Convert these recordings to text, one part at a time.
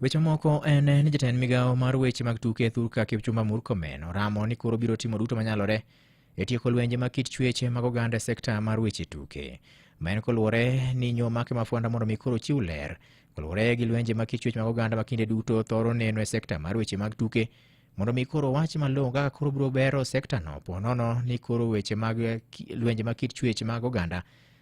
Weche moko en ni jatend migawo mar weche mag tuke Thurka Kipchumba Murkomen oramo ni koro biro timo duto manyalore e tieko lwenje mag kit chueche mag oganda e sekta mar weche tuke. Ma en koluwore ni nyo make mafwanda mondo mi koro chiw ler koluwore gi lwenje mag kit chuech mag oganda ma kinde duto thoro neno e sekta mar weche mag tuke mondo mi koro wach malong'o kaka koro biro bero sektano ponono ni koro weche mag ki- lwenje mag kit chuech mag oganda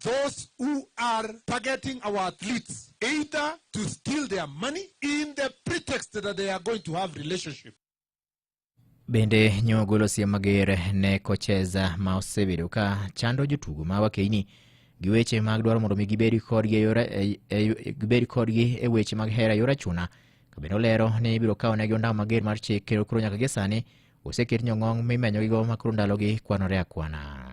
those who are targeting our athletes either to steal their money in the pretext that they are going to have relationship Bende nyo ogolo siem mager ne kocheza ma osebedo ka chando jotugo ma wakeini gi weche mag dwaro mondo mi gibed kodgi e yore- e- e- gibed kodgi e weche mag hera e yor achuna ka bende olero ni ibiro kawnegi ondamo mager mar chik kendo koro nyaka gie sani oseket nyong'ong' mimenyogigo ma koro ndalogi kwanore akwana